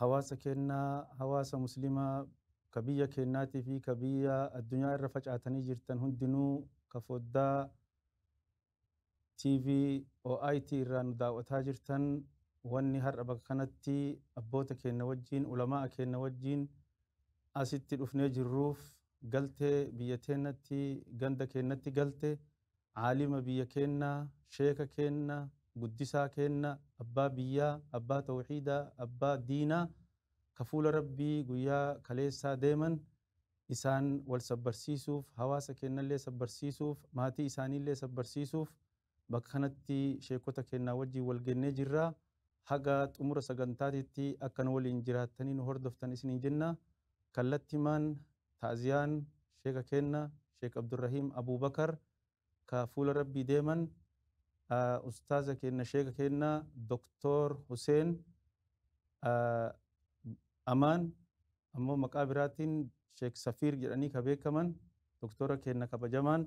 hawaasa keenna hawaasa muslimaa ka biyya keennaatii fi ka biyya addunyaa irra facaatanii jirtan hundinuu ka foddaa TV OIT irraa nu daaw'ataa jirtan wanni har'a bakka kanatti abboota keenna wajjiin ulamaa'a keenna wajjiin asitti dhufnee jirruuf galte biyya teennatti ganda keennatti galte Aalima biyya keenna, sheeka keenna, guddisaa keenna, abbaa biyyaa, abbaa tawhiidaa, abbaa diinaa ka fuula Rabbii guyyaa kaleessaa deeman isaan wal sabbarsiisuuf, hawaasa keennallee sabbarsiisuuf, maatii isaaniillee sabbarsiisuuf bakka kanatti sheekkota keennaa wajjiin wal geennee jirra. Haga xumura sagantaatitti akka nu waliin jiraattanii nu hordoftan isiniin jenna. Kallattimaan ta'ziyaan sheeka keenna Sheek Abdurrahiim Abuubakar ka fuula Rabbii deeman, Ustaaza keenna Sheeka keenna Doktoor Huseen Amaan ammoo maqaa biraatiin Sheek Safiir jedhanii ka beekaman Doktoora keenna kabajamaan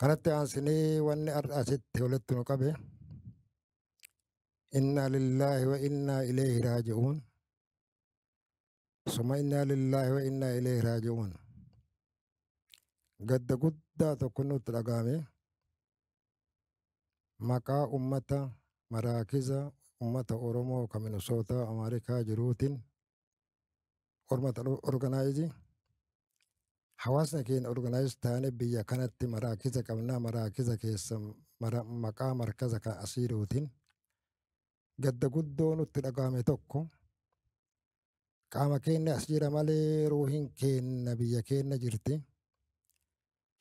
Kanatti aansinee wanni har'a asitti walitti nu qabe innaa lillaahi wa innaa ileehi raaji'uun suma innaa lillaahi wa innaa ileehi raaji'uun gadda guddaa tokko nutti dhaga'ame maqaa ummata maraakiza ummata Oromoo ka Minisootaa Ameerikaa jiruutiin hormata organaayizii hawaasni keenya organaayiz taane biyya kanatti maraakiza qabnaa maraakiza keessa maqaa markaza kan asiirootiin gadda guddoo nutti dhaga'ame tokko qaama keenya as jira malee ruuhin keenya biyya keenya jirti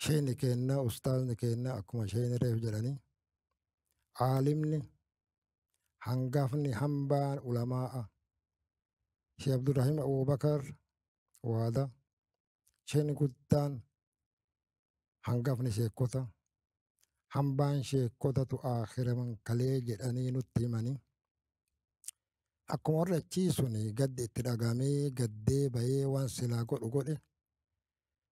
Sheekni keenna ustaazni keenna akkuma sheekni reef jedhanii aalimni hangafni hambaan ulamaa'a Sheekh Abdurrahim Abubakar waada sheekni guddaan hangafni sheekota hambaan sheekotatu aakiraman kalee jedhanii nutti himanii akkuma warri achii suni gaddi itti dhagamee gaddee bahee waan silaa godhu godhe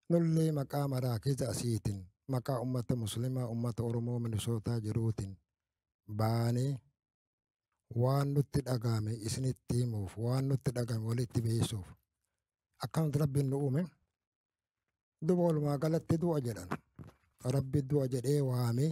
Nullee maqaa maraakiza asiitiin, maqaa ummata muslimaa, ummata Oromoo Minisootaa jiruutiin baanee waan nutti dhagahame isinitti himuuf, waan nutti dhagahame walitti beeysuuf. Akkanatti Rabbiin nu uume. Duba walumaa galatti du'a jedhan. Rabbi du'a jedhee waamee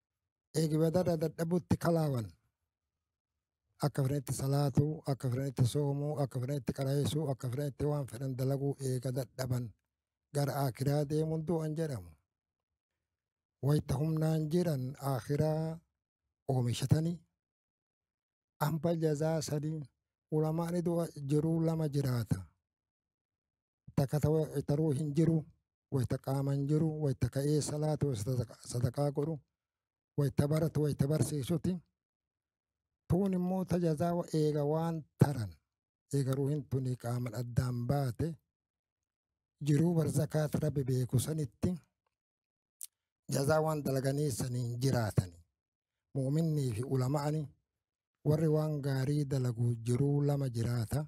eegi badara dadhabutti kalaawan akka fedhanitti salaatu akka fedhanitti soomuu akka fedhanitti qaraayesuu akka fedhanitti waan fedhan dalaguu eega dadhaban gara akiraa deemuun du'an jedhamu wayta humnaan jiran akiraa oomishatanii Amba jazaa sadii ulamaan idoo jiruu lama jiraata. Takka taruu hin jiru wayta qaama hin jiru wayta ka'ee salaatu sadaqaa godhu wayta baratu wayta barsiisuti. Tuun immoo tajazaa eega waan taran eega ruuhin tuni qaaman addaan baate jiruu barzakaat rabbi beeku sanitti jazaa waan dalaganii saniin jiraatani mu'minnii fi ulama'ani warri waan gaarii dalagu jiruu lama jiraata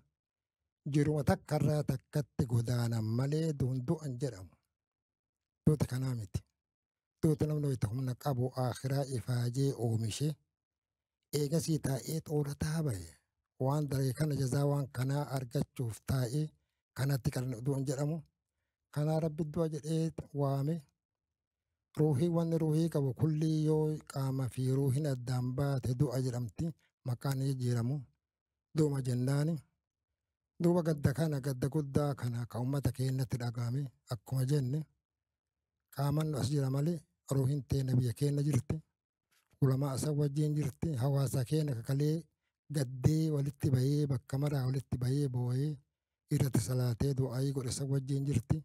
jiruma takka irraa takkatti godaanan malee duun du'an jedhamu duuti kanaa miti duuti namni wayita humna qabu akhiraa ifaajee oomishee eegasii taa'ee xoorataa bahe waan daree kana jazaa waan kanaa argachuuf taa'ee kanatti kan du'an jedhamu kanaa rabbi du'a jedhee waame ruuhii wanni ruuhii qabu kullii yoo qaama fi ruuhin addaan baate du'a jedhamti maqaan jijjiiramu du'uma jennaani duuba gadda kana gadda guddaa kana ka ummata keenyatti dhagahame akkuma jenne qaaman as jira malee ruuhin teenya biyya keenya jirti ulamaa san wajjiin jirti hawaasa keenya kakalee gaddee walitti bahee bakka maraa walitti bahee boo'ee irratti salaatee du'aayii godhe san wajjiin jirti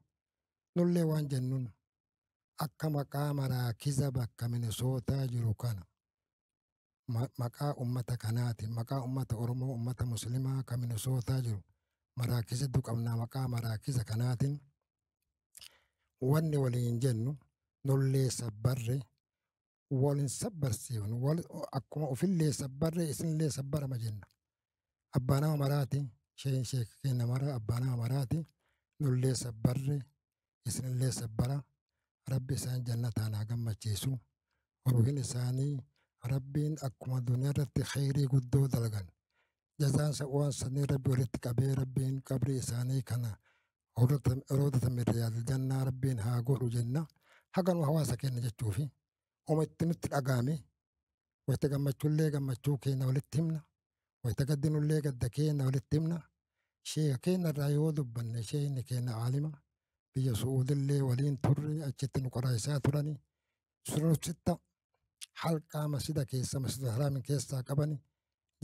nullee waan jennuun akka maqaa maraakiza bakka minisootaa jiru kana ma- maqaa ummata kanaatiin maqaa ummata oromoo ummata muslimaa kan minisootaa jiru maraakiza hedduu qabnaa maqaa maraakiza kanaatiin wanni waliin jennu nullee sabbarre wal hin sabbarsiifnu wal akkuma ofillee sabbarree isinillee sabbarama jenna abbaa nama maraati sheen sheeka keenya mara abbaa nama maraati nullee sabbarre isinillee sabbara rabbi isaan jannataan haa gammachiisu ruuhin isaanii rabbiin akkuma duniyaa irratti kheyrii guddoo dalgan jazaan sa- waan sanii rabbi walitti qabee rabbiin qabrii isaanii kana rodatame riyaadil jannaa rabbiin haa godhu jenna haganuma hawaasa keenya jechuufi uma itti nutti dhagaame wayita gammachuullee gammachuu keenya walitti himna wayita gaddinullee gadda keenya walitti himna sheeka keenya irraa yoo dubbanne sheekni keenya aalima biyya su'uudillee waliin turre achitti nu qoraayisaa turani sunursitta halqaa masjida keessa masjida haraami keessaa qabani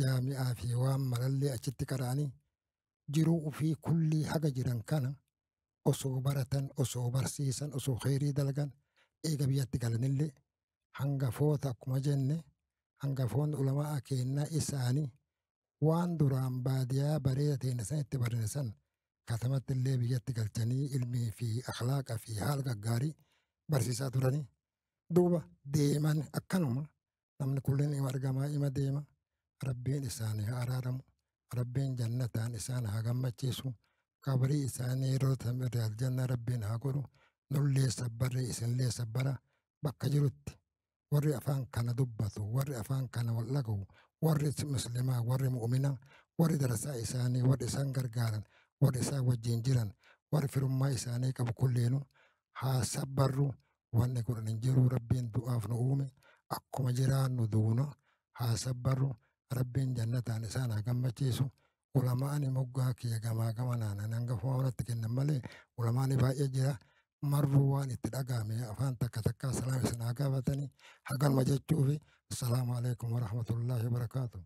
jaami'aa fi waan marallee achitti qara'anii jiruu ufii kullii haga jiran kana osoo baratan osoo barsiisan osoo kheyrii dalgan eega biyyatti galanillee hangafoota akkuma jenne hangafoonni ulamaa keennaa isaanii waan duraan baadiyaa bareeda teenya san itti barine san katamatti illee biyyatti galchanii ilmii fi akhlaaqa fi haala gaggaarii barsiisaa turanii duuba deeman akkanuma namni kullin ima argamaa ima deema rabbiin isaanii haa araaramu rabbiin jannataan isaan haa gammachiisu qabrii isaanii yeroo tamire aljanna rabbiin haa godhu nullee sabbarri isinlee sabbara bakka jirutti warri afaan kana dubbatu warri afaan kana wal dhagahu warri muslimaa warri mu'umina warri darasaa isaanii warri isaan gargaaran warri isaan wajjin jiran warri firummaa isaanii qabu kulleenu haa sabbarru wanni godhan hin jiru rabbiin du'aaf nu uume akkuma jiraannu duuna haa sabbarru rabbiin jannataan isaan haa gammachiisu ulamaani moggaa kiyya gamaa gamanaan an hangafumaa wanatti kennan malee ulamaani baay'ee jira marruu waan itti dhagaame afaan takka takkaa salaam isin haa gaafatanii haganuma jechuufi assalaamu alaikum warahmatullaahi wabarakaatu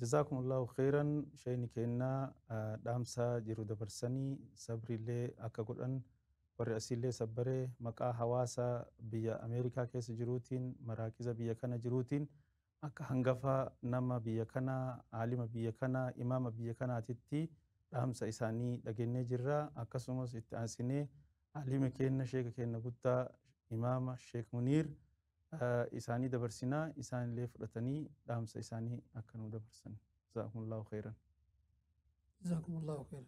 Jazaakumullaahu kheyran sheeyni keennaa dhaamsaa jiru dabarsanii sabriillee akka godhan Warri asiillee sabbaree maqaa hawaasa biyya Ameerikaa keessa jiruutiin, maraakiza biyya kana jiruutiin akka hangafa nama biyya kanaa, aalima biyya kanaa, imaama biyya kanaatitti dhaamsa isaanii dhagennee jirra. Akkasumas itti aansinee aalima keenna, sheeka keenna guddaa, imaama sheek Muniir isaanii dabarsina. Isaanillee fudhatanii dhaamsa isaanii akka nuu dabarsan. Jazaakumullaahu kheyran. Jazaakumullaahu kheyran.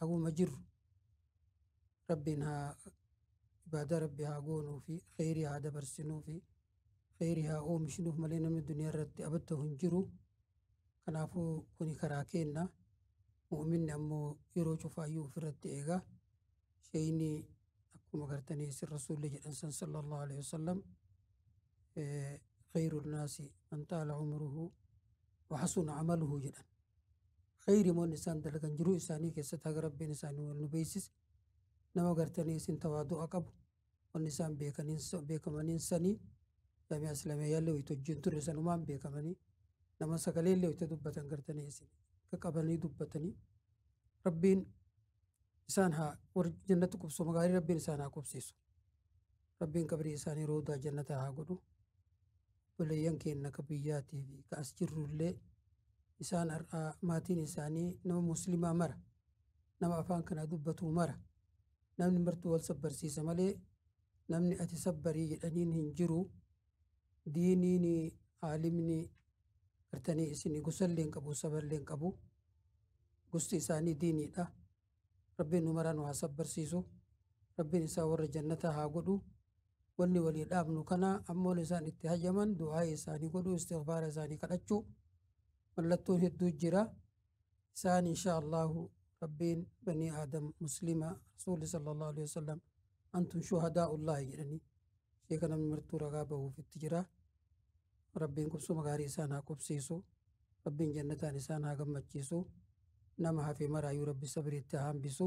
haguma jirru rabbiin haa ibaadaa rabbi haa goonuu fi kheyrii haa dabarsinuu fi kheyrii haa oomishnuuf malee namni duniyaa irratti abadda'u hin jiru kanaafuu kuni karaa keenna mu'minni ammoo yeroo cufaayyuu ofirratti eegaa Sheyni akkuma gartanii isin rasuulli jedhan san sallallahu alaihi wasallam khayru naasi man taala umruhu wa hasuna amaluhu jedhan. Khayri moon isaan dalagan jiruu isaanii keessatti haga rabbiin isaanii wal nu beeksise nama gartanii isin tawaadu'a qabu wanni isaan beekaniin beekamaniin sanii damee aslameeyaallee wayita hojii hin turre sanumaan beekamanii nama sagaleellee wayita dubbatan gartanii isin akka qabanii dubbatanii rabbiin isaan haa warri jannatti qubsuma gaarii rabbiin isaan haa qubsiisu rabbiin qabrii isaanii roodaa jannataa haa godhu obboleeyyan keenya ka biyyaatii fi ka as jirrullee isaan har'aa maatiin isaanii nama muslimaa mara nama afaan kana dubbatuu mara namni martuu wal sabbarsiisa malee namni ati sabbarii jedhaniin hin jiru Diiniini aalimni gartani isini gosalle hin qabu saballe hin qabu gosti isaani diinidha rabbin nu maraa nu haa sabbarsiisu rabbin isaan warra jannata haa godhu wanni walii dhaabnu kana ammoon isaan itti hayyaman du'aayi isaani godhu istighfaara isaani kadhachu mallattoon hedduu jira Isaan inshaa Allaahu Rabbiin banii Aadam Muslima Rasuulli sallallahu alaihi wasallam antum shuhadaa'ullaahi jedhanii sheeka namni martuu ragaa bahuuf itti jira. Rabbiin qubsuma gaarii isaan haa qubsiisu. Rabbiin jannataan isaan haa gammachiisu. Nama hafe maraayuu Rabbi sabiriitti haa hambisu.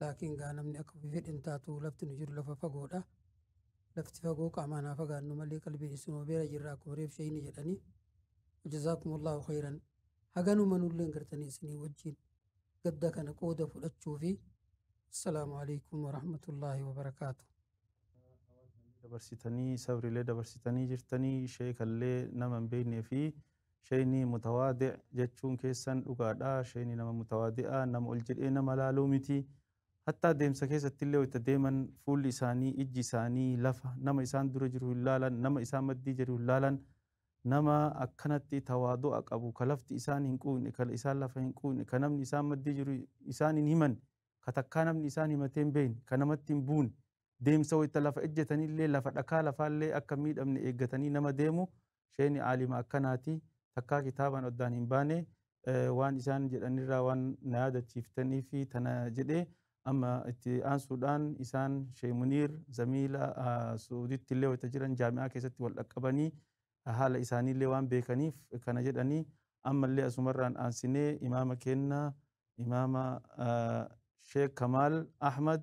Laakiin gaa namni akka ofii fedhe hin taatu lafti nu jiru lafa fagoodha. Lafti fagoo qaamaan haa fagaannu malee qalbiin isinuma beera jirra akkuma reef shayni jedhanii. Wajazaakumullahu khayran. Haganuma nulleen gartanii isinii wajjin gadda kana qooda fudhachuu fi assalaamu alaikum warahmatullaahi wabarakaatu. dabarsitanii sabrilee dabarsitanii jirtanii sheekallee nama hin beeknee fi Sheyni mutawaadi' jechuun keessan dhugaadha. Sheyni nama mutawaadi'a, nama ol jedhee nama laaluu miti. Hattaa deemsa keessattillee wayta deeman fuulli isaanii, ijji isaanii lafa, nama isaan dura jiru hin laalan, nama isaan maddii jiru hin laalan. Nama akkanatti tawaadu'a qabu, ka lafti isaan hin quuyne, ka isaan lafa hin quuyne, ka namni isaan maddii jiru isaan hin himanne, ka takkaa namni isaan himatee hin beeyne, ka namatti hin buune, deemsa wayta lafa ejjetanillee lafa dhakaa lafaallee akka hin miidhamne eeggatanii nama deemu sheeyni aalima akkanaati takkaa kitaabaan oddaan hin baane waan isaan jedhanirraa waan na yaadachiiftaniifi tana jedhee amma itti aansuudhaan isaan sheey muniir zamiila suuditti illee wayita jiran jaami'aa keessatti wal dhaqqabanii haala isaanii illee waan beekaniif kana jedhanii ammallee asumarraan aansinee imaama keenna imaama sheek kamaal ahmad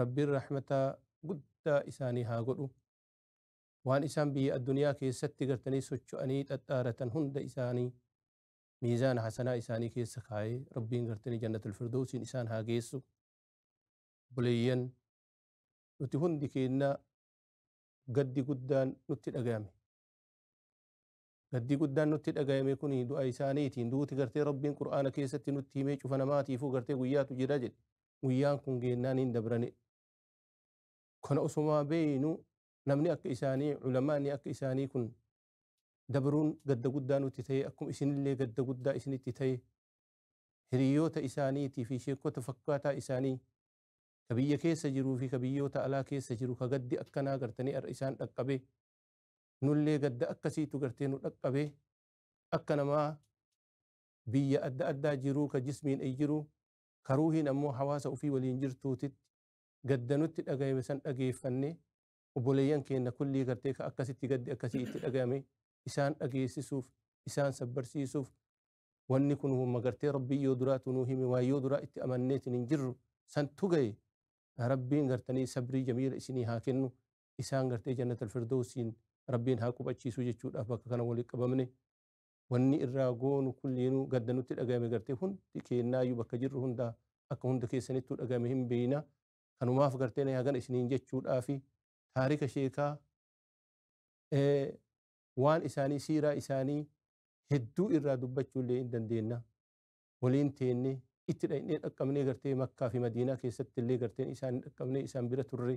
Rabbiin Rahmata guddaa isaanii haa godhu. Waan isaan biyya addunyaa keessatti gartanii socho'anii xaxxaaratan hunda isaanii miizaana hasanaa isaanii keessa kaa'ee Rabbiin gartanii Jannatul Firdowsiin isaan haa geessu. Obboleeyyan nuti hundi keenya gaddi guddaan nutti dhagayame. Gaddii guddaan nutti dhagayame kuni du'a isaaniiti. Duuti gartee Rabbiin Qur'aana keessatti nutti himee cufa namaatiifuu gartee guyyaatu jira jedhe. Guyyaan kun geennaan hin dabrane. Kana osumaa beeynu namni akka isaanii ulamaani akka isaanii kun dabruun gadda guddaa nutti ta'e akkuma isinillee gadda guddaa isinitti ta'e hiriyoota isaaniitii fi sheekota fakkaataa isaanii ka biyya keessa jiruu fi ka biyyoota alaa keessa jiru ka gaddi akkanaa gartanii har'a isaan dhaqqabe nullee gadda akkasiitu gartee nu dhaqqabe akka namaa biyya adda addaa jiruu ka jismiin ey jiru ka ruuhiin ammoo hawaasa ufii waliin jirtuutitti gadda nutti dhagayame san dhageeffanne obboleeyyan keenna kullii gartee ka akkasitti gaddi akkasii itti dhagayame isaan dhageessisuuf isaan sabbarsiisuuf wanni kun humma gartee rabbii yoo duraatu nuu hime waa yoo duraa itti amanneetiin hin jirru santu gaye rabbiin gartanii sabrii jamiila isinii haa kennu isaan gartee jannatal firdowsiin rabbiin haa qubachiisuu jechuudhaaf bakka kana walitti qabamne wanni irraa goonu kulliinuu gadda nutti dhagahame gartee hundi keennaayyuu bakka jirru hundaa akka hunda keessanittuu dhagahame hin beeyna kanumaaf gartee na hagana isiniin jechuudhaafi taarika sheekaa waan isaanii siiraa isaanii hedduu irraa dubbachuu illee hin dandeenna waliin teenne itti dhaqnee dhaqqabnee gartee makkaa fi madiinaa keessatti illee garteen isaan hin dhaqqabnee isaan bira turre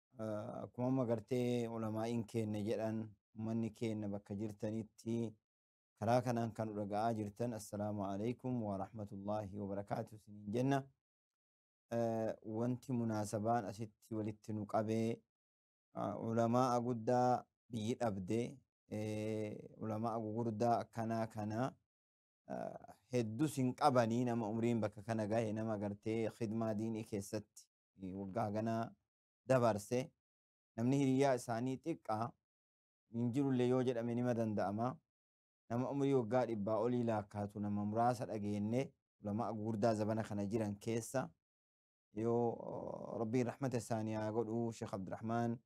Akkuma amma gartee ulamaa'iin keenya jedhan ummanni keenya bakka jirtanitti karaa kanaan kan dhaga'aa jirtan assalaamu alaikum wa rahmatullaahi wa barakaatu isiniin jenna. Wanti munaasabaan asitti walitti nu qabee ulamaa'a guddaa biyyi dhabde ulamaa'a gugurdaa akkanaa kana heddus hin qabanii nama umriin bakka kana gahe nama gartee khidmaa diinii keessatti waggaa hagana dabarse namni hiriyyaa isaanii xiqqaa hin jirulle yoo jedhame nima danda'ama. Nama umrii waggaa dhibbaa olii laakkaatu nama muraasa dhageenne ulama'a gugurdaa zabana kana jiran keessa yoo rabbiin rahmata isaanii haa godhu Sheekh Abdurrahmaan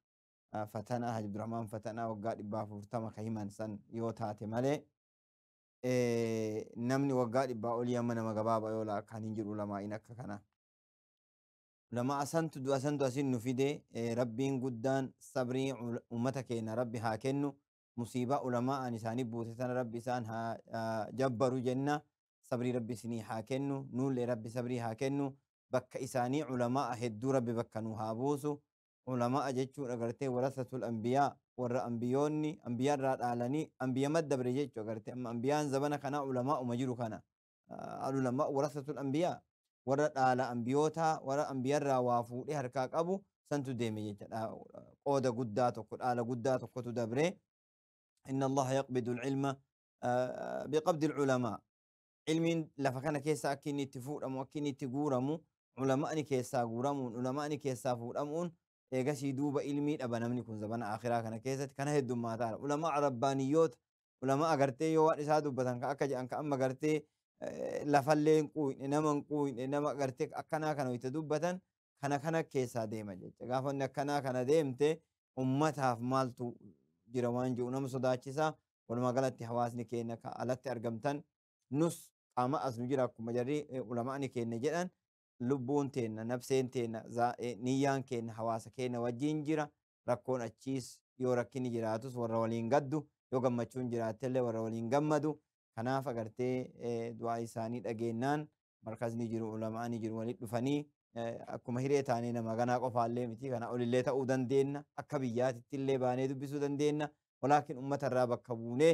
Fatanaa Haji Abdurrahmaan Fatanaa waggaa dhibbaa afurtama ka himan san yoo taate malee namni waggaa dhibbaa olii amma nama gabaaba yoo laakkaan hin jiru ulamaa'iin akka kana. Ulama asantu du asantu asin nu fide rabbiin guddaan sabrii umata keena rabbi haa kennu musiibaa ulama an isaani buute tana rabbi isaan haa jabbaru jenna sabrii rabbi isinii haa kennu nuulle rabbi sabrii haa kennu bakka isaanii ulama a hedduu rabbi bakka nu haa buusu ulama a jechuun agartee warasatul anbiyaa warra anbiyoonni anbiya irraa dhaalanii anbiya maddabre jechu agarte amma anbiyaan zabana kanaa ulama uma jiru kana Al-Ulamaa warasatul anbiyaa warra dhaala anbiyootaa warra anbiyarraa waa fuudhee harkaa qabu santu deeme jecha dha- qooda guddaa tokko dhaala guddaa tokkotu dabre inna allaha yaqbidu alcilma ah, biqabdi alculamaa ilmiin lafa kana keessa akka inni itti fuudhamu akka inni itti guuramu ulama'ni keessaa guuramuun ulama'ni keessaa fuudhamuun eegasii duuba ilmii dhaba namni kun zabana akhiraa kana keessatti kana heddummaataa ulamaa rabbaaniyyoota ulama'a gartee yoo waan isaa dubbatan ka akka jedhan ka amma gartee eh, lafallee hin quuyne nama hin quuyne nama gartee akkanaa kana itti dubbatan kana kana keessaa deema jecha gaafa inni akkanaa kana deemte ummataaf maaltu jira waan jiru nama sodaachisa walumaa galatti hawaasni keenya ka alatti argamtan nus qaama as nu jira akkuma jarri eh, ulama'ni keenya jedhan lubbuun teenna nabseen teenna zaa- eh, niyyaan keenya hawaasa keenya wajjin jira rakkoon achiis yoo rakkinni jiraatus warra waliin gaddu yoo gammachuun jiraattellee warra waliin gammadu kanaaf agartee du'aa isaanii dhageennaan markazni jiru ulama'ani jiru walitti dhufanii akkuma hiree taanee nama ganaa qofaallee miti kana olillee ta'uu dandeenna akka biyyaatittillee baanee dubbisuu dandeenna walaakin ummata irraa bakka buunee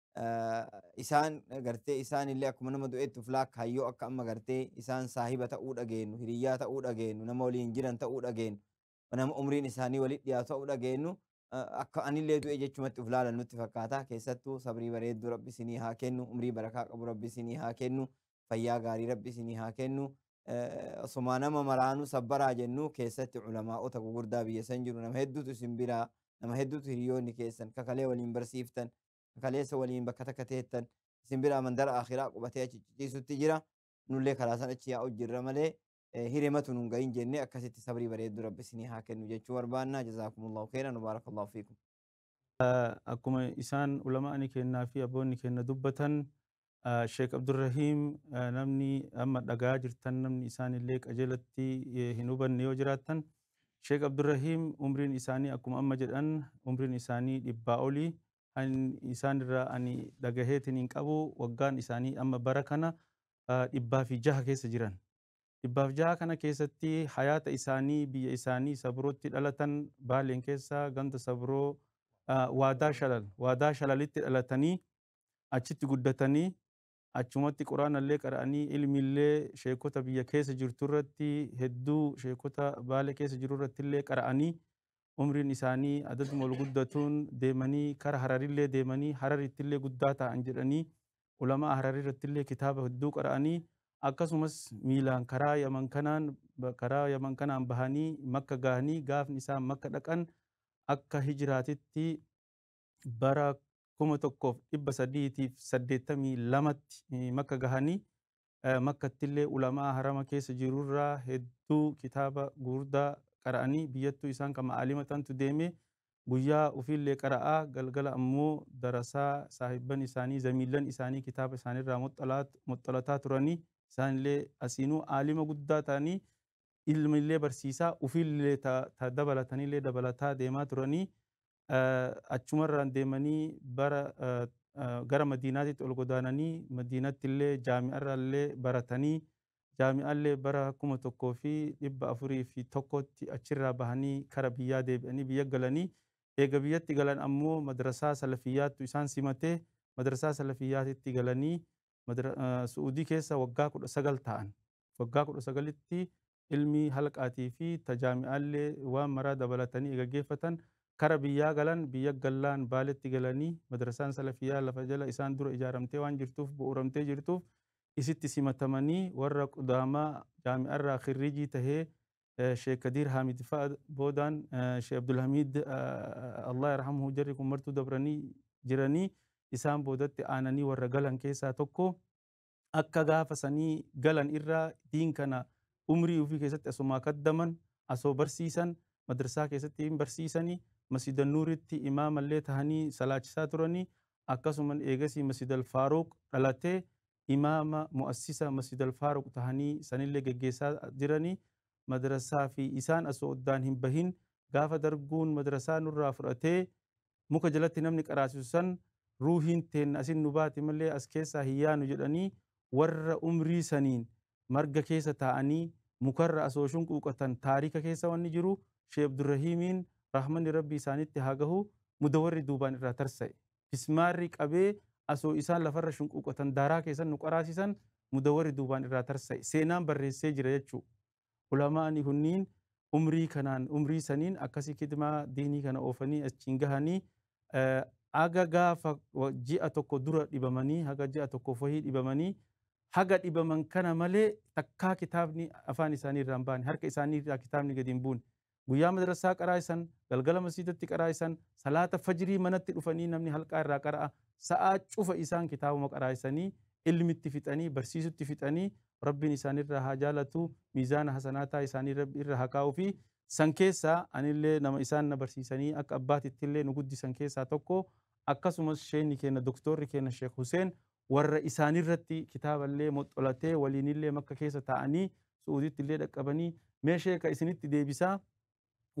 isaan gartee isaan illee akkuma nama du'eetti of laakkaayyoo akka amma gartee isaan saahiba ta'uu dhageenyu hiriyyaa ta'uu dhageenyu nama waliin jiran ta'uu dhageenyu nama umriin isaanii walitti dhiyaatu ta'uu dhageenyu akka anillee du'e jechumatti of laalan nutti fakkaata keessattuu sabrii bareedduu rabbi isinii haa kennu umrii barakaa qabu rabbi isinii haa kennu fayyaa gaarii rabbi isinii haa kennu osoma nama maraanuu sabbaraa jennu keessatti ulamaa'ota gugurdaa biyya san jiru nama hedduutu isin biraa nama hedduutu hiriyoonni keessan kakalee waliin barsiiftan ka kaleessa waliin bakka takka teettan isin biraa mandara akhiraa qubatee achi ciciisutti jira nullee karaa san achi yaa'u jirra malee eh, hirematu nun gahin jenne akkasitti sabrii bareeddu rabbi isinii haa kennu jechuu barbaanna jazaakumullahu khayran wabaarakallahu fiikum akkuma isaan ulama'ani kennaa fi abboonni kenna dubbatan Sheek Abdurrahiim namni amma dhaga'aa jirtan namni isaan illee qajeelatti hin hubanne yoo jiraattan Sheek Abdurrahiim umriin isaanii akkuma amma jedhan umriin isaanii dhibbaa oli kan isaan irraa ani dhagaheetiin hin qabu waggaan isaanii amma bara kana dhibbaa fi jaha keessa jiran. Dhibbaaf jaha kana keessatti hayaata isaanii biyya isaanii sabrootti dhalatan baaleen keessa ganda sabroo waadaa shalal waadaa shalalitti dhalatanii achitti guddatanii achumatti quraanallee qara'anii ilmiillee sheekota biyya keessa jirturratti hedduu sheekota baale keessa jirurrattillee qara'anii umriin isaanii adaduma ol guddatuun deemanii kara hararillee deemanii hararittillee guddaa taa'an jedhanii ulama'a hararirrattillee kitaaba hedduu qara'anii akkasumas miilaan karaa yaman kanaan karaa yaman kanaan bahanii makka gahanii gaafni isaan makka dhaqan akka hijiraatitti bara 1382tti Makka gahanii Makkattillee ulamaa harama keessa jirurraa hedduu kitaaba gugurdaa qara'anii biyyattuu isaan kama aalima tantu deemee guyyaa ufiillee qara'aa galgala ammoo darasaa saahibban isaanii zamiillan isaanii kitaaba isaanirraa moxxalataa turanii isaanillee asiinuu aalima guddaa ta'anii ilmillee barsiisaa ufiillee ta dabalatanillee dabalataa deemaa turanii Achuma irraan deemanii bara gara Madiinaatitti ol godaananii Madiinatti illee jaami'a irraa illee baratanii jaami'a illee bara 1401tti achirraa bahanii kara biyyaa deebi'anii biyya galanii eega biyyatti galan ammoo madrasaa salafiyyaattu isaan simatee madrasaa salafiyyaatitti galanii Su'uudii keessa waggaa 19 taa'an. Waggaa 19tti ilmii halqaatii fi ta jaami'aallee waan maraa dabalatanii eega geeffatan kara biyyaa galan, biyya gallaan Baaletti galanii madrasaan salafiyyaa lafa jala isaan dura ijaaramtee waan jirtuuf, bu'uuramtee jirtuuf isitti simatamanii warra qudaamaa jaami'arraa khirriijii tahee Sheikh Kadiir Haamid fa'a boodaan Sheikh Abdulhamiid Allah yarhamhu jarri kun martuu dabranii jiranii isaan boodatti aananii warra galan keessaa tokko. akka gaafa sanii galan irraa diin kana umrii ufii keessatti asumaa kaddaman asoo barsiisan madrasaa keessatti hin barsiisani masjida nuuritti imaamallee tahanii salaachisaa turanii akkasuman eegasii masjidal faaruuq dhalatee imaama mu'assisa masjidal faaruuq tahanii sanillee geggeessaa jiranii madrasaa fi isaan asoo oddaan hin bahin gaafa darguun madrasaa nurraa fudhatee muka jalatti namni qaraasisu san ruuhiin teenna asin nu baati malee as keessaa hin yaanu jedhanii warra umrii saniin marga keessa taa'anii mukarra asoo shunquuqatan taarika keessa wanni jiru Shee Abdurrahiimiin rahmanni Rabbii isaanitti haa gahu mudawarri duubaan irraa tarsa'e. Fismaarri qabee asoo isaan lafarra shunquuqatan daaraa keessan nu qaraasisan mudawarri duubaan irraa tarsa'e. Seenaan barreessee jira jechuu. Ulamaa'ni kunniin umrii kanaan umrii saniin akkasii kidmaa diinii kana oofanii achiin gahanii haga gaafa ji'a tokko dura dhibamanii haga ji'a tokko fahii dhibamanii haga dhibaman kana malee takkaa kitaabni afaan isaanii irraa hin baane harka isaanii irraa kitaabni gadi hin buune Guyyaa madrassaa qaraa'isan, galgala masjiidatti qaraa'isan, salaata fajrii manatti dhufanii namni halqaa irraa qara'a, sa'aa cufa isaan kitaabuma qaraa'isanii, ilmitti fixanii, barsiisutti fixanii, Rabbiin isaanirraa haa jaalatu, miizaana hasanaataa isaanii Rabbi irra haa kaa'uufi. San keessaa anillee nama isaan na barsiisanii akka abbaatittillee nu guddisan keessaa tokko, akkasumas sheeyni keenna doktoorri keenna Sheekh Huseen warra isaanirratti kitaaballee moxxolatee waliinillee makka keessa taa'anii su'uudittillee dhaqqabanii mee sheeka isinitti deebisaa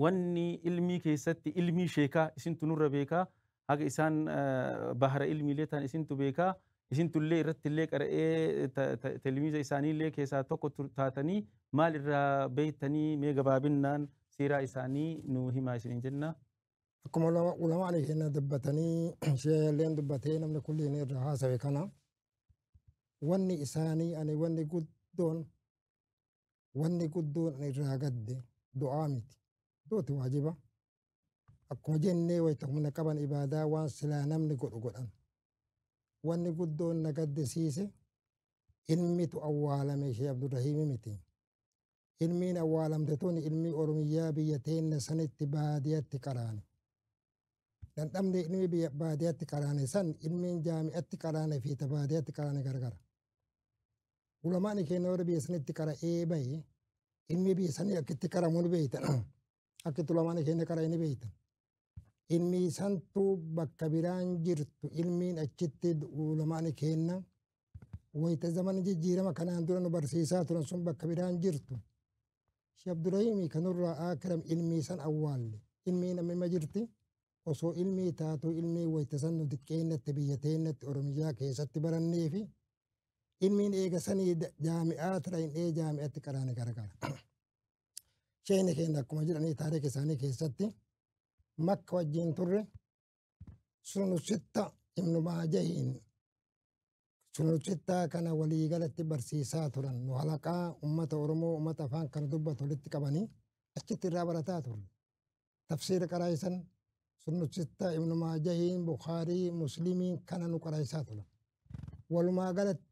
wanni ilmii keessatti ilmii sheekaa isintu nurra beekaa haga isaan bahara ilmiilee tan isintu beekaa isintullee irrattillee qara'ee telmiiza isaaniillee keessaa tokko taatanii maal irraa beektanii mee gabaabinnaan siiraa isaanii nuu himaa isiniin jennaa. akkuma ulama ali keenya dubbatanii sheelleen dubbatee namni kulliin irra haasawe kana wanni isaanii ani wanni guddoon wanni guddoon irraa gadde du'aa miti duuti waajiba akkuma jennee wayita humna qaban ibaadaa waan silaa namni godhu godhan wanni guddoon na gaddisiise ilmitu awwaalame ishee abdurrahiimi miti ilmiin awwaalamte tuni ilmii Oromiyyaa biyya teenna sanitti baadiyatti qaraane. Dhandhamni ilmii biyya baadiyatti qaraane san ilmiin jaami'atti qaraane fi ta baadiyatti qaraane gargara. Ulamaani keenya warri biyya sanitti qara'ee bahe ilmii biyya sanii akka itti qaramu ni beeytan. Akka itti ulamaana keenya qara inni beektan. Ilmi santu bakka biraan jirtu ilmiin achitti ulamaana keenya wayita zaman jijjiirama kanaan dura nu barsiisaa turan sun bakka biraan jirtu. Sheekh Abdurrahiimii kanurraa akiram ilmii san awwaalle. Ilmiin amma jirti. osoo ilmii taatu ilmii wayita san nu xiqqeennatti biyya teennatti oromiyaa keessatti barannee fi ilmiin eega sanii jaami'aa tira hin dhee jaami'atti qaraane garagara. sheekni keenya akkuma jedhanii taarika isaanii keessatti makka wajjin turre sunu sitta ibnu maajahiin sunu sittaa kana walii galatti barsiisaa turan nu halaqaa ummata oromoo ummata afaan kana dubbatu walitti qabanii achitti irraa barataa turre tafsiira qaraa'isan sunu sitta ibnu maajahiin bukaarii muslimiin kana nu qaraa'isaa turan walumaa galatti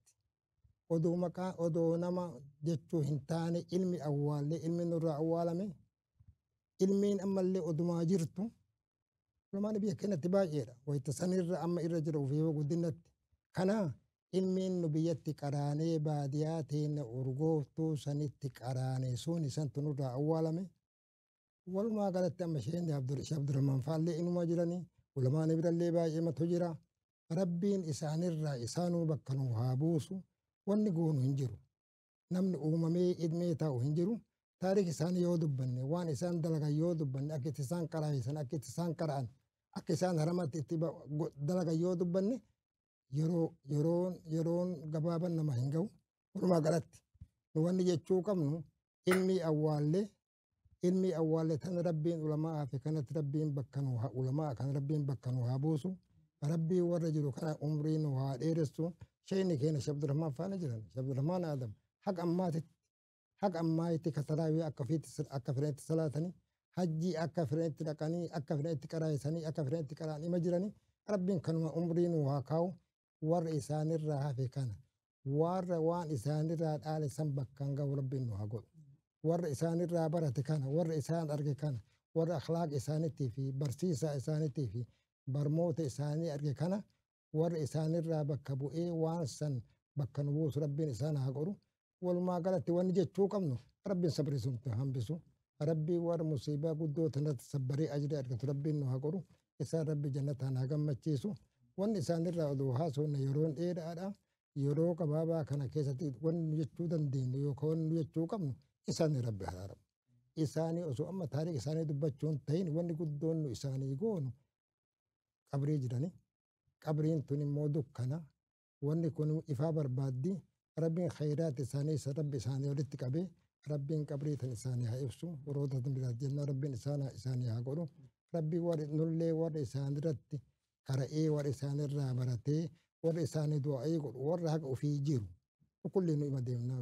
odoo maqaa odoo nama jechuu hin taane ilmi awwaallee ilmi nurraa awwaalame ilmiin ammallee odumaa jirtu Oromaan biyya keenyatti baay'eedha. Wayita sanirra amma irra jira ofii guddinatti. Kana ilmiin nu biyyatti qaraanee baadiyaa teenya urgooftuu sanitti qaraane sun isantu nurraa awwaalame. Walumaa galatti amma Sheekni Abdur- Sheekh Abdurrahmaan Faallee inumaa jiranii ulamaani birallee baay'ee matu jira. Rabbiin isaanirraa isaanuu bakka nuu haa buusu wanni goonu hin jiru. Namni uumamee idmee taa'u hin jiru. Taarikh isaanii yoo dubbanne waan isaan dalagan yoo dubbanne akka itti isaan qaraayisan akka itti isaan qara'an akka isaan haramatti itti ba- go- dalagan yoo dubbanne yeroo yeroon yeroon gabaaban nama hin ga'u walumaa galatti nu wanni jechuu qabnu ilmi awwaallee ilmi awwaallee tan rabbiin ulamaa fi kanatti rabbiin bakka nu haa ulamaa kan rabbiin bakka nu haa buusu rabbii warra jiru kana umrii nu haa dheeressu sheeyni keenya shabdurahmaan faana jiran shabdurahmaan aadam haqa ammaatitti Haga ammaa itti ka taraawii akka ofiitti akka fedhanitti salaatanii hajjii akka fedhanitti dhaqanii akka fedhanitti qaraayisanii akka fedhanitti qaraan ima jiranii rabbiin kanuma umrii nuu haa kaa'u warra isaanirraa hafe kana warra waan isaanirraa dhaale san bakkaan ga'u rabbiin nuu haa godhu warra isaanirraa barate kana warra isaan arge kana warra akhlaaqa isaaniitii fi barsiisaa isaaniitii fi barmoota isaanii arge kana warra isaanirraa bakka bu'ee waan san bakka nu buusu rabbiin isaan haa godhu walumaa galatti wanni jechuu qabnu rabbiin sabrii suntu hambisu rabbii warra musiibaa guddoo tanatti sabbaree ajira argatu rabbiin nu haa godhu isaan rabbi jannataan haa gammachiisu wanni isaanirraa oduu haasofne yeroon dheeraadha yeroo gabaabaa kana keessatti wanni nu jechuu dandeenyu yookaan wanni nu jechuu qabnu isaanii rabbi haraaramu isaanii osoo amma taariikh isaanii dubbachuun ta'in wanni guddoon nu isaanii goonu qabrii jirani qabriin tun immoo dukkana wanni kun ifaa barbaaddi rabbiin khayraati isaanii rabbi isaanii walitti qabee rabbiin qabrii tan isaanii haa ibsu roota biraat jenna rabbiin isaan isaanii haa godhu rabbii warri nullee warri isaanirratti qara'ee warri isaanirraa baratee warri isaanii du'a'ee godhu warra haqa ofii jiru kulli nu ima deemnaa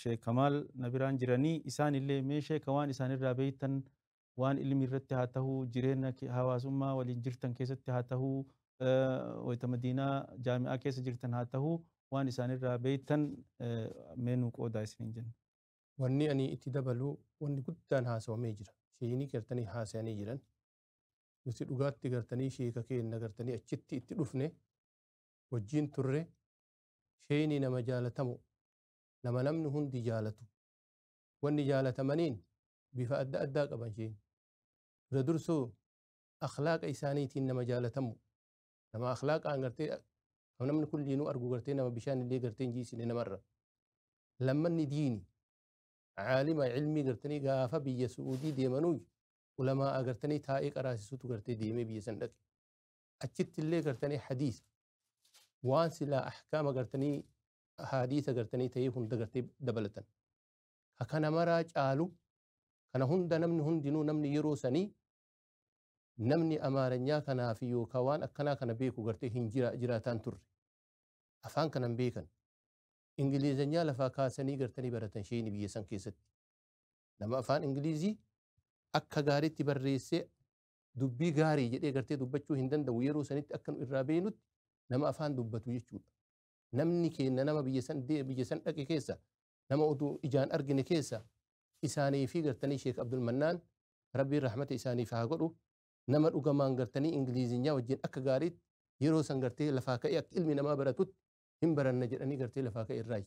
Sheek Kamaal na biraan jiranii isaan illee mee sheeka waan isaan irraa beektan waan ilmi irratti haa tahuu jireenya hawaasummaa waliin jirtan keessatti haa tahuu wayita madiinaa jaami'aa keessa jirtan haa tahuu waan isaan irraa beektan mee nuu qoodaa isiniin jenna. Wanni ani itti dabalu wanni guddaan haasawamee jira. Sheeyinii gartanii haasayanii jiran. Nuti dhugaatti gartanii sheeka keenna gartanii achitti itti dhufne wajjiin turre Sheeyni nama jaalatamoo, nama namni hundi jaalatu. Wanni jaalatamaniin bifa adda addaa qaban sheeyni. Dura dursuu akhlaaqa isaaniitiin nama jaalatamoo. Nama akhlaaqaan gartee kan namni kulliinuu argu gartee nama bishaan illee gartee hin jiisine namarra. Lammanni diini. Caalima ilmii gartanii gaafa biyya Su'uudii deemanuu ulamaa agartanii taa'ee qaraasisutu gartee deemee biyya san dhaqe. achitti illee gartanii hadiisa waan silaa ahkaama gartanii hadiisa gartanii ta'ee hunda gartee dabalatan ka kana maraa caalu kana hunda namni hundinuu namni yeroo sanii namni amaaranyaa kanaa fi yookaan waan akkanaa kana beeku gartee hin jira jiraataan turre afaan kanan beekan ingilizanyaa lafaa kaasanii gartanii baratan sheeyni biyya san keessatti nama afaan ingilizii akka gaariitti barreessee dubbii gaarii jedhee gartee dubbachuu hin danda'u yeroo sanitti akka nu irraa beeynutti nama afaan dubbatu jechuudha. Namni keenna nama biyya san dee biyya san dhaqe keessa nama oduu ijaan argine keessa isaanii fi gartanii Sheek Abdul Mannaan Rabbiin rahmata isaaniif haa godhu nama dhugamaan gartanii Ingiliizinyaa wajjin akka gaariitti yeroo san gartee lafaa ka'ee akka ilmi namaa baratutti hin baranna jedhanii gartee lafaa ka'e irraa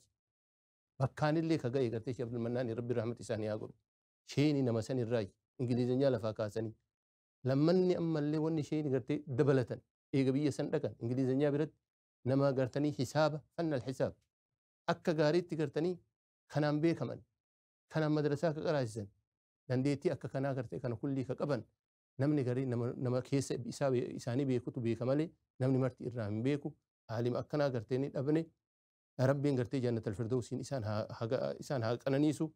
bakkaanillee ka ga'e gartee Sheek Abdul Mannaan Rabbiin rahmata isaanii haa godhu. sheeyni nama san irraayyi ingilizenyaa lafaa kaasanii lammanni ammallee wanni sheeyni gartee dabalatan eega biyya san dhaqan ingilizenyaa biratti nama gartanii hisaaba fannal hisaab akka gaariitti gartanii kanaan beekaman kanaan madrasaa ka qaraasisan dandeettii akka kanaa gartee kana kullii ka qaban namni garii nama, nama keessa isaa be- isaanii beekutu beeka malee namni marti irraa hin beeku aalima akkanaa gartee ni dhabne Rabbiin gartee jannatal firdowsiin isaan haa haa ga- isaan haa qananiisu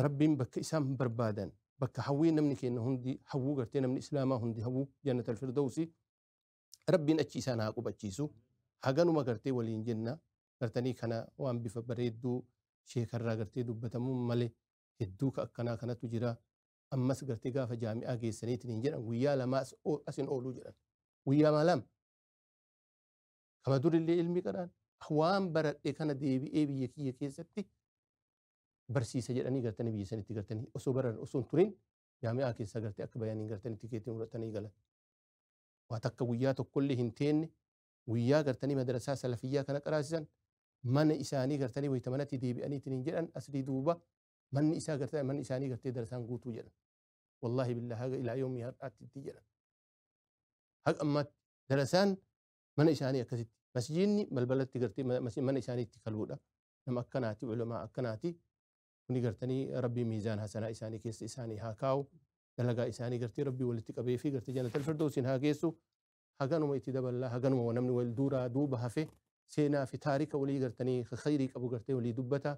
Rabbiin bakka isaan barbaadan bakka hawwii namni keenya hundi hawwuu gartee namni islaamaa hundi hawwuu jannatal firdowsii Rabbiin achi isaan haa qubachiisu haganuma gartee waliin jenna gartanii kana waan bifa bareedduu sheekarraa gartee dubbatamuun malee hedduu ka akkanaa kanatu jira ammas gartee gaafa jaami'aa geessaniitiin hin jedhan guyyaa lamaa as- o- asin ooluu jedhan guyyaa maalam Kama durillee ilmi qaraan waan baradhe kana deebi'ee biyya kiyya keessatti barsiisa jedhanii gartanii biyya sanitti gartanii osoo baran osoo hin turin jaami'aa keessaa gartee akka bayaniin gartanii tikeetiin fudhatanii galan. Waa takka guyyaa tokkollee hin teenne guyyaa gartanii madarasaa salafiyyaa kana qaraasisan mana isaanii gartanii wayita manatti deebi'aniitiin hin jedhan asrii duuba manni isaa gartanii manni isaanii gartee darasaan guutuu jedhan. Wallaahi billaa haga ilaa yoomii har'aatti itti jedhan. Haga ammaatti darasaan mana isaanii akkasitti masjiinni balbalatti gartee mana isaanii itti kaluudha nama akkanaati ulamaa akkanaati kuni gartanii rabbii miizaan hasanaa isaanii keessa isaanii haa kaa'u dalagaa isaanii gartee rabbii walitti qabee fi gartee jannatal firdoosin haa geessu haganuma itti daballaa haganuma namni wal duuraa duuba hafe seenaa fi taarika walii gartanii khayrii qabu gartee walii dubbata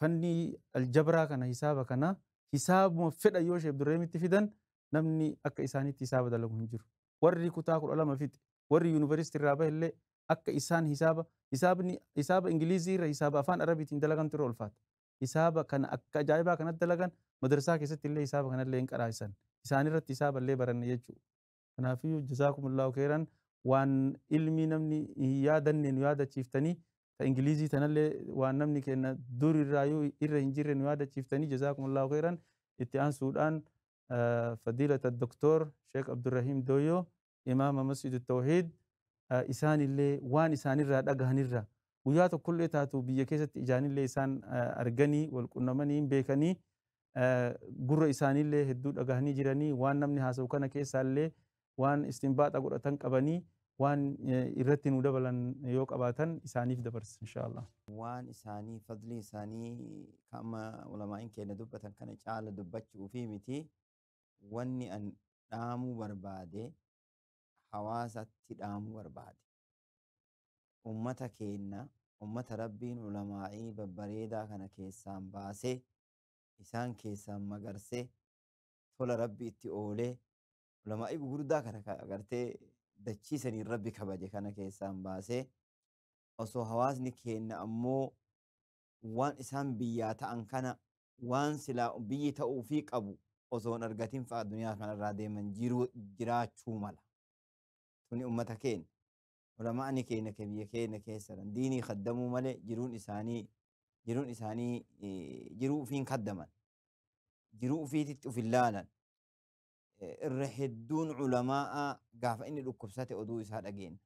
fannii aljabraa kana hisaaba kana hisaabuma fedha yoo sheef durreemitti fidan namni akka isaanitti hisaaba dalagu hin jiru. Warri kutaa kudha lama fixe warri yuunivarsiitii irraa bahe illee akka isaan hisaaba hisaabni hisaaba Ingilizii irra hisaaba afaan Arabiitiin dalagantu irra ulfaata. Hisaaba kana akka ajaa'ibaa kanatti dalagan madarsaa keessatti illee hisaaba kana illee hin qaraa'isan. Isaan irratti hisaaba illee baranne jechuudha. Kanaafiyyuu jazaakumullaahu keeyran waan ilmii namni hin yaadanne nu yaadachiiftanii ta Ingiliizii tanallee waan namni keenna dur irraayyuu irra hin jirre nu yaadachiiftanii jazaakumullaahu keeyran itti aansuudhaan fadiilata doktoor Sheek Abdurrahiim Dooyyoo imaama Masjidu Tawhiid isaanillee waan isaanirraa dhagahanirra guyyaa tokkollee taatu biyya keessatti ijaanillee isaan arganii wal qunnamanii hin beekanii gurra isaaniillee hedduu dhagahanii jiranii waan namni haasa'u kana keessaallee waan istinbaaxa godhatan qabanii waan irratti nu dabalan yoo qabaatan isaaniif dabarsa inshaallah. Waan isaanii fadlii isaanii kan amma ulamaa'in keenya dubbatan kana caala dubbachuu fi miti wanni an dhaamuu barbaade hawaasatti dhaamuu barbaade. Ummata keenya ummata rabbiin ulamaa'ii babbareedaa kana keessaan baasee isaan keessaan magarsee tola rabbi itti oolee ulamaa'ii gugurdaa kana ka agartee dachiisaniin rabbi kabaje kana keessaan baasee osoo hawaasni keenna ammoo waan isaan biyyaa ta'an kana waan silaa biyyi ta'uu fi qabu osoo hin argatin fa'a duniyaa kanarraa deeman jiruu jiraachuu mala. Tuni ummata keenya. Ulama'ani keenna ka biyya keenna keessa jiran diinii kaddamuu malee jiruun isaanii jiruun isaanii eh, jiruu ufiin kaddaman. Jiruu ufiititti uf hin laalan. Eh, Irra hedduun ulamaa'a gaafa inni dhukkubsate oduu isaa dhageenna.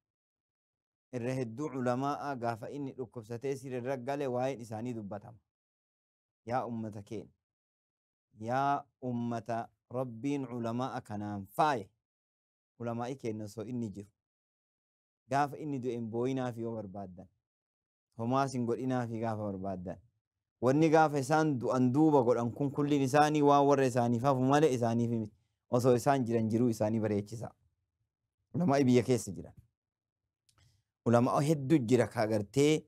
Irra hedduu ulamaa'a gaafa inni dhukkubsatee sirrirra gale waa'een isaanii dubbatama. Yaa ummata keenya. Yaa ummata Rabbiin ulamaa'a kanaan faaye. Ulamaa'i keenya osoo inni jiru. Gaafa inni du'e hin booyinaafii yoo barbaaddan. Homaas hin godhinaafii gaafa barbaaddan. Wanni gaafa isaan du'an duuba godhan kun kulliin isaanii waan warra isaaniif hafu malee isaaniif miti. Osoo isaan jiran jiruu isaanii bareechisaa. Ulamaa'ii biyya keessa jiran. Ulamaa'oo hedduu jira ka agartee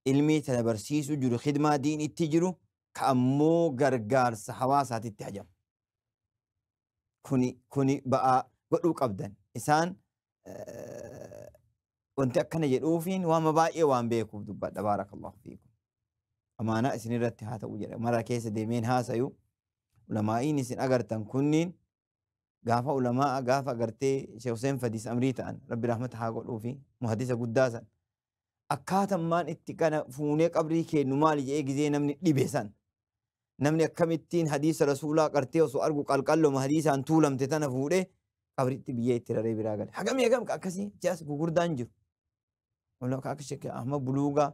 ilmii tana barsiisuu jiru, khidmaa diiniitti jiru, ka ammoo gargaarsa hawaasaatitti hajamu. kuni kuni ba'aa godhuu qabdan isaan eh, wanti akkana jedhuufiin waama baay'ee waan beekuuf dubbadha baarakallahu fiikum amaanaa isin irratti haa ta'u jedha mara keessa deemeen haasayu ulamaa'iin isin agartan kunniin gaafa ulamaa gaafa agartee Sheekh Hussein Fadiis Amrii ta'an rabbi rahmata haa godhuufi muhadisa guddaa san akkaatan maan itti kana fuunee qabrii keennu maali jedhee gizee namni dhibe san namni akkamittiin hadiisa rasuulaa qartee osoo argu qalqalloma hadiisaan tuulamte tana fuudhee qabritti biyyee itti raree biraa gale. Hagamii hagam ka akkasii jaas gugurdaan jiru. Walaa ka akka shekkee ahma buluugaa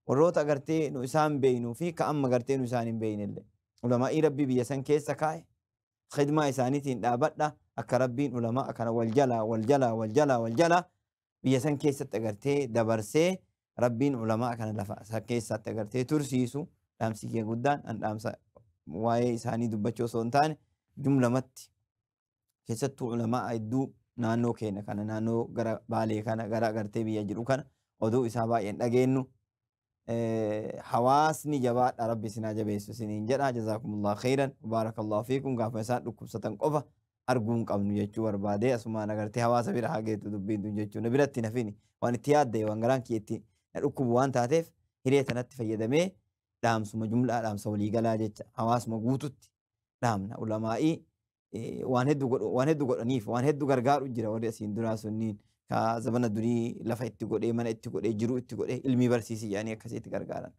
warroota gartee nu isaan beeynuu fi ka amma gartee nu isaan hin beeynellee. Ulamaa'ii rabbii biyya san keessa kaa'e khidmaa isaaniitiin dhaabadha akka rabbiin ulamaa kana wal jalaa wal jalaa wal jalaa wal jalaa biyya san keessatti agartee dabarsee rabbiin ulamaa kana lafa isa keessaatti agartee tursiisu dhaamsi kee guddaan an dhaamsa waa'ee isaanii dubbachuu osoo hin taane jumlamatti keessattuu ulamaa hedduu naannoo keenya kana naannoo gara baalee kana gara agartee biyya jiru kana oduu isaa baay'een dhageennu hawaasni jabaadha rabbi isin haa jabeessu isiniin jedha jazaakumullah khayran baarakallahu fiikum gaafa isaan dhukkubsatan qofa arguu hin qabnu jechuu barbaade asumaan agartee hawaasa bira haa geetu dubbiin tun jechuu na biratti nafini waan itti yaadde waan garaan kiyya itti na dhukkubu waan taateef hiree tanatti fayyadamee dhaamsuma jumlaa dhaamsa waliigalaa jecha hawaasuma guututti dhaamna ulamaa'ii waan heddu godhu waan heddu godhaniif waan heddu gargaaru jira warri asiin duraa sunniin ka zabana durii lafa itti godhee mana itti godhee jiruu itti godhee ilmii barsiisi jedhanii akkasii itti gargaaran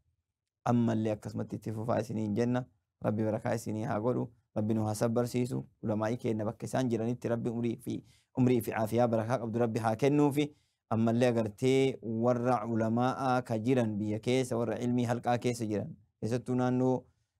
ammallee akkasumatti itti fufaa isiniin jenna rabbi barakaa isinii haa godhu rabbi nu haa sabbarsiisu ulamaa'ii keenna bakka isaan jiranitti rabbi umrii fi umrii fi caafiyaa barakaa qabdu rabbi haa kennuufi ammallee agartee warra ulamaa'aa ka jiran biyya keessa warra ilmii halqaa keessa jiran keessattuu naannoo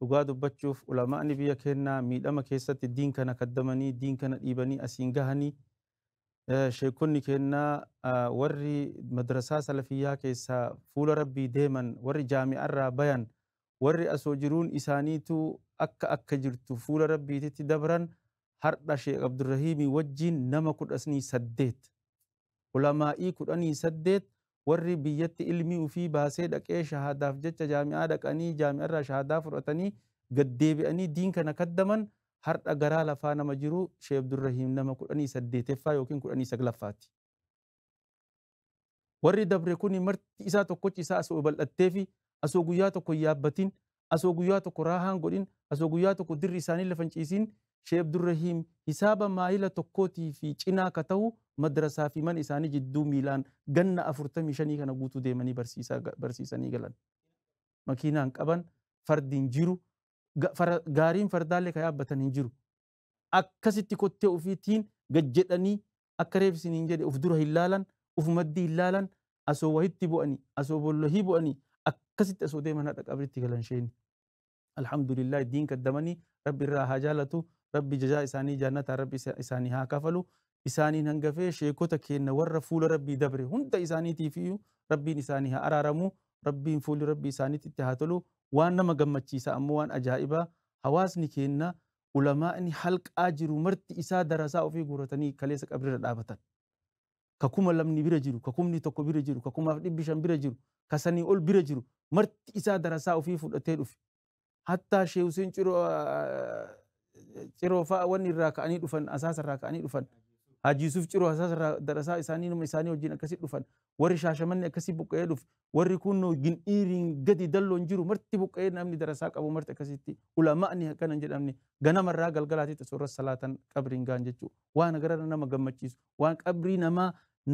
Dhugaa dubbachuuf ulama'ni biyya keennaa miidhama keessatti diin kana kaddamanii, diin kana dhiibanii asiin gahanii. Sheekkonni keennaa warri madrasaa salafiyyaa keessaa fuula Rabbii deeman, warri jaami'arraa bayan, warri asoo jiruun isaaniituu akka akka jirtu fuula Rabbiititti dabran hardha Sheekh Abdurrahiimii wajjiin nama kudhasnii saddeet. Ulamaa'ii kudhanii saddeet warri biyyatti ilmii ufii baasee dhaqee shahaadaaf jecha jaami'aa dhaqanii jaami'arraa shahaadaa fudhatanii gad deebi'anii diin kana kaddaman hardha garaa lafaa nama jiru Shee Abdurrahiim nama kudhanii saddeeteffaa ykn kudhanii saglaffaati. Warri dabre kuni marti isaa tokkochi isaa asoo bal'atteefi asoo guyyaa tokko hin yaabbatin asoo guyyaa tokko raahaan godhin asoo guyyaa tokko dirri isaanii lafan ciisiin Sheikh Abdurrahiim hisaaba maayila tokkootii fi cinaa ka tahu madrasaa fi mana isaanii jidduu miilaan ganna afurtamii shanii kana guutuu deemanii barsiisanii galan. Makiinaan qaban, fardi hin jiru, gaariin fardaallee ka yaabbatan hin jiru. akkasitti kottee ufiitiin gad jedhanii akka reef isiniin jedhe uf dura hin laalan uf maddii hin laalan asoo wahitti bu'anii asoo bollohii bu'anii akkasitti asoo deeman hadha qabritti galan sheeyni alhamdulillah diin kaddamanii rabbi irraa haa jaalatu rabbi jazaa isaanii jaannataa rabbi isaanii haa kafalu isaaniin hangafee sheekota keenna warra fuula rabbii dabre hunda isaaniitiif iyyuu rabbiin isaanii haa araaramu rabbiin fuulli rabbi isaaniitti itti haa tolu waan nama gammachiisa ammoo waan ajaa'ibaa hawaasni keenna ulamaa'ni halqaa jiru marti isaa darasaa ofii guuratanii kaleessa qabriirra dhaabatan. Ka kuma lamni bira jiru, ka kumni tokko bira jiru, ka kumaaf dhibbi shan bira jiru, ka sanii ol bira jiru marti isaa darasaa ofii fudhatee dhufe. Hattaa Sheeh Huseen Ciroo Ciroo fa'a wanni irraa ka'anii dhufan, asaasa irraa ka'anii dhufan. Haji Yusuf Ciroo asaasa irraa darasaa isaanii numa isaanii wajjin akkasi dhufan. Warri Shaashamanni akkasi buqqa'ee dhufe. warri kunno gindhiiriin gadi dalloon jiru marti buqqa'ee namni darasaa qabu marti akkasitti ulama'ni akkana hin jedhamne ganamarraa galgalaatitti osoo irra salaatan qabriin gaan jechuu waan gararra nama gammachiisu waan qabrii namaa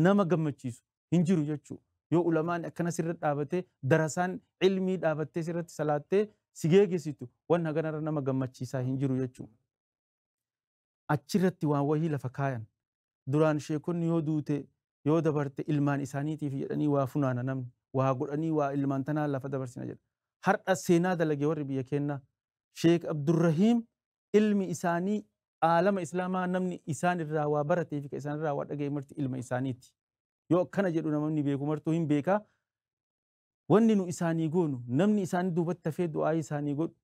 nama gammachiisu hin jiru jechuu yoo ulamaan akkana sirra dhaabatee darasaan ilmii dhaabattee sirratti salaattee si geegessitu waan haganarra nama gammachiisaa hin jiru jechuu achirratti waan wahii lafa kaayan duraan sheekonni yoo duute yoo dabarte ilmaan isaaniitiif jedhanii waa funaana namni waa godhanii waa ilmaan tanaa lafa dabarsina jedha har'a seenaa dalage warri biyya keennaa sheek abdurrahiim ilmi isaanii aalama islaamaa namni isaan irraa waa baratee fi ka isaan irraa waa dhaga'e marti ilma isaaniiti yoo akkana jedhu namni beeku martuu hin beekaa Wanni nu isaanii goonu, namni isaanii duubatti hafee du'aa'ii isaanii godhu,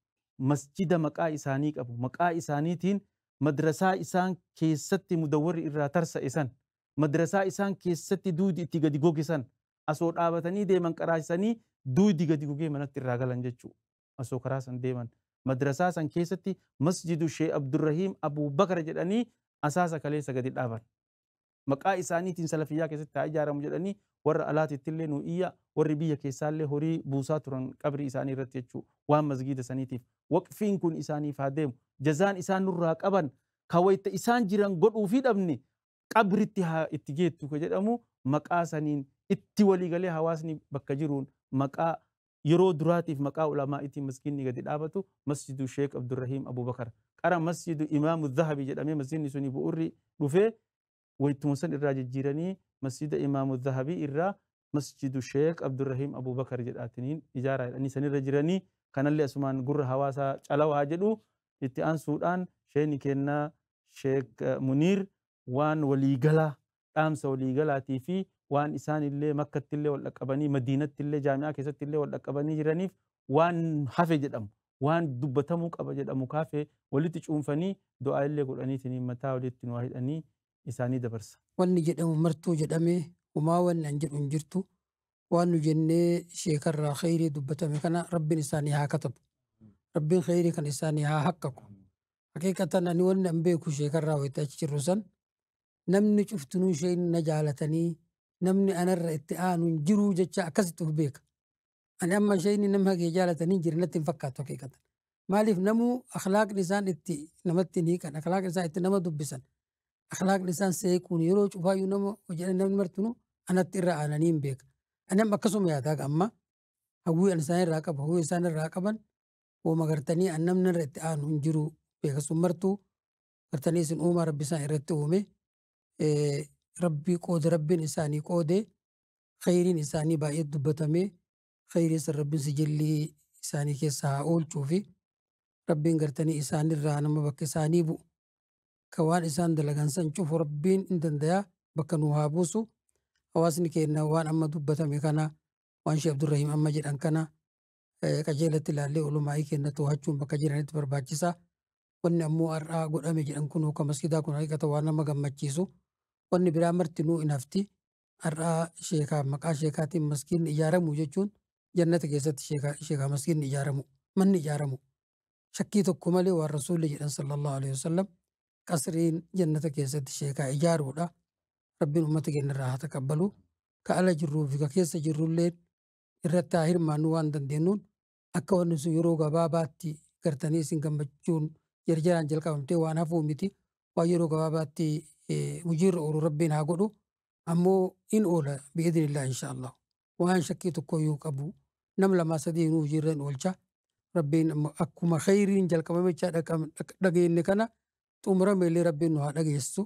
masjida maqaa isaanii qabu, maqaa isaaniitiin madrasaa isaan keessatti mudawwarri irraa tarsa'e san, madrasaa isaan keessatti duudi itti gadi goge san, asoo dhaabatanii deeman qaraasisanii duudi gadi gogee manatti irraa galan jechu'u. Asoo karaa san deeman. Madrasaa san keessatti masjidu Sheeh Abdurrahiim Abuu Bakar jedhanii asaasa kaleessa gadi dhaaban. maqaa isaaniitiin salafiyyaa keessatti haa ijaaramu jedhanii warra alaatittillee nu iyyaa warri biyya keessaallee horii buusaa turan qabrii isaanii irratti jechuu waan masgiida saniitiif waqfiin kun isaaniif haa deemu jazaan isaan nurraa qaban ka wayta isaan jiran godhuufii dhabne qabritti haa itti geettu ka jedhamu maqaa saniin itti waliigalee hawaasni bakka jiruun maqaa yeroo duraatiif maqaa ulamaa'itiin masjiidni gadi dhaabatu masjidu sheek abdurrahiim abubakar qara masjidu imaamu zahabi jedhamee masjiidni suni bu'urri dhufee waytuma san irraa jijjiiranii masjida imaamu zahabii irraa masjidu sheek abdurrahiim abubakar jedhaatiniin ijaaraa jedhanii sanirra jiranii kanallee asumaan gurra hawaasaa calawa haa jedhu itti aansuudhaan sheeni kennaa sheek muniir waan walii galaa, dhaamsa walii galaatii fi waan isaan illee Makkatti illee wal dhaqqabanii, Madiinatti illee Jaami'aa keessatti illee wal dhaqqabanii jiraniif waan hafe jedhamu, waan dubbatamuu qaba jedhamu ka hafe walitti cuunfanii du'aa illee godhaniitiin mataa walitti nu haa hidhanii isaanii dabarsa. Wanni jedhamu martuu jedhamee humaa wanni an jedhu hin jirtu. Waan nu jennee sheeka irraa kheyrii dubbatame kana Rabbiin isaanii haa katabu. Rabbiin kheyrii kana isaanii haa haqqaqu. Haqiiqatan ani wanni an beeku sheekarraa wayita achi jirru san namni cuftinuu ishee na jaalatanii namni anarra itti aanu hin jiruu jecha akkasitti of beeka. Ani amma ishee inni nama hagee jaalatanii hin jirre natti hin fakkaatu haqiiqatan. Maaliif namuu akhlaaqni isaan itti namatti hin hiikan akhlaaqni isaan itti nama dubbisan akhlaaqni isaan seequun yeroo cufaayyuu nama hojjetan namni martinuu anatti irra aananii hin beeka. Ani amma akkasuma yaadaa amma hawwii an isaan irraa qabu hawwii isaan irraa qaban uuma gartanii an namni irra itti aanu hin jiru beeka sun martuu gartanii isin uumaa rabbi isaan irratti uume rabbii qoode rabbiin isaanii qoode khayriin isaanii baay'ee dubbatame khayrii san rabbiin sijillii isaanii keessa haa oolchuu fi rabbiin gartanii isaanirraa nama bakka isaanii bu'u ka waan isaan dalagan san cufu rabbiin hin dandayaa bakka nu haa buusu hawaasni keenya waan amma dubbatame kana waan shee abdurrahiim amma jedhan kana qajeelatti ilaallee ulumaa'ii keenya to'achuun bakka jiranitti barbaachisa. Wanni ammoo har'aa godhame jedhan kun kan masgidaa kun haqiqata waan nama gammachiisu. Wanni biraa martinuu hin hafti. Har'aa sheekaa maqaa sheekaatiin maskiinni ijaaramu jechuun jannata keessatti sheekaa sheekaa maskiinni ijaaramu manni ijaaramu. Shakkii tokko malee waan rasuulli jedhan sallallahu alaihi wasallam qasriin jannata keessatti sheekaa ijaaruudha. Rabbiin uummata keenya irraa haa taqabbalu. Ka ala jirruu fi ka keessa jirrullee irratti haa hirmaannu waan dandeenyuun akka wanni sun yeroo gabaabaatti gartanii isin gammachuun jarjaraan jalqabamtee waan hafuu miti waan yeroo gabaabaatti hojiirra oolu rabbiin haa godhu ammoo in oola bi'idinillaa insha Allah waan shakkii tokko yoo qabu nam lamaa sadii nuu hojiirra in oolcha rabbiin akkuma kheyriin jalqabamechaa dhageenne kana xumurameellee rabbiin nu haa dhageessu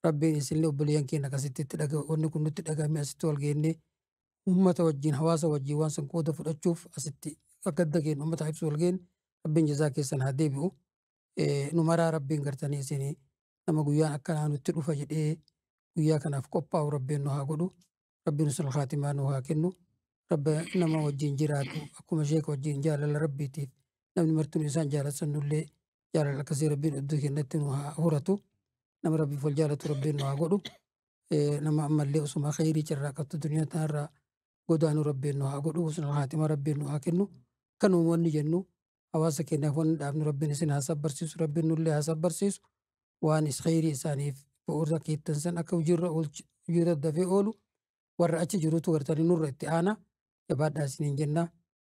Rabbiin isinillee obboleeyyan keenya akkasitti itti dhaga wanni kun nutti dhagahame asitti wal geennee uummata wajjin hawaasa wajjin waan san qooda fudhachuuf asitti gadda keenya uummataa ibsu wal geenne Rabbiin jazaa keessan haa deebi'u. Eh, Nu maraa Rabbiin gartanii isin nama guyyaan akkanaa nutti dhufa jedhee guyyaa kanaaf qophaa'u Rabbiin nu haa godhu. Rabbiin usul khaatimaa nu haa kennu. Rabbi nama wajjin jiraatu akkuma sheeka wajjin jaalala Rabbiitiif namni martuu isaan jaalatan nullee jaalala akkasii rabbiin iddoo keenyatti nu haa horatu nama rabbiif wal jaalatu rabbiin nu haa godhu nama ammallee osuma kheyrii carraaqattu duniyaa tanarraa godaanu rabbiin nu haa godhu husnul haatima rabbiin nu haa kennu kan uummanni jennu hawaasa keenyaaf wanni dhaabnu rabbiin isin haa sabbarsiisu rabbiin nullee haa sabbarsiisu waan is kheyrii isaaniif bu'uura keettan san akka hojiirra oolchi hojiirra dafee oolu warra achi jirutu gartanii nurra itti aanaa jabaadhaa isiniin jennaa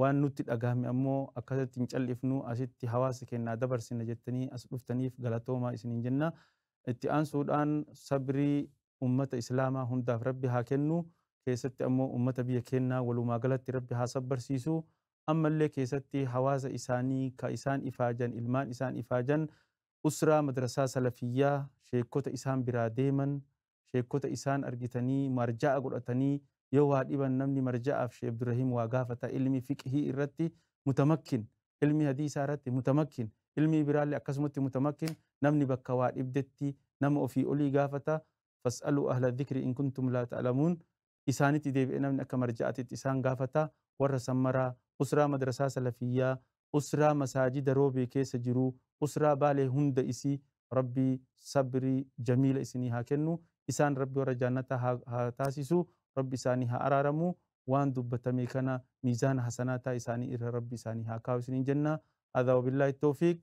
waan nutti dhagahame ammoo akkasatti hin cal'ifnu asitti hawaasa keenyaa dabarsina jettanii as dhuftaniif galatoomaa isiniin jenna. Itti aansuudhaan sabrii ummata islaamaa hundaaf rabbi haa kennu keessatti ammoo ummata biyya keennaa walumaa galatti rabbi haa sabbarsiisu ammallee keessatti hawaasa isaanii ka isaan ifaajan ilmaan isaan ifaajan usraa madrasaa salafiyyaa sheekkota isaan biraa deeman sheekkota isaan argitanii maarjaa'a godhatanii yoo waa dhiban namni marja'aaf shee Abdurrahim waa gaafata ilmi fiqhii irratti mutamakkin ilmi hadiisaa irratti mutamakkin ilmii biraallee akkasumatti mutamakkin namni bakka waa dhibdetti nama ofii olii gaafata fas'aluu ahla dhikri in kuntum laa ta'lamuun isaanitti deebi'ee namni akka marja'aatitti isaan gaafata, warra san maraa, usraa madrasaa salafiyyaa, usraa masaajida roobee keessa jiruu, usraa baalee hunda isii rabbi sabrii jamiila isinii haa kennu, isaan rabbi warra jaannataa haa haa taasisu, rabbi isaanii haa araaramu, waan dubbatame kana miizaana hasanaataa isaanii irra rabbi isaanii haa kaahu isiniin jenna, haadaa wabillaahi towfiiq,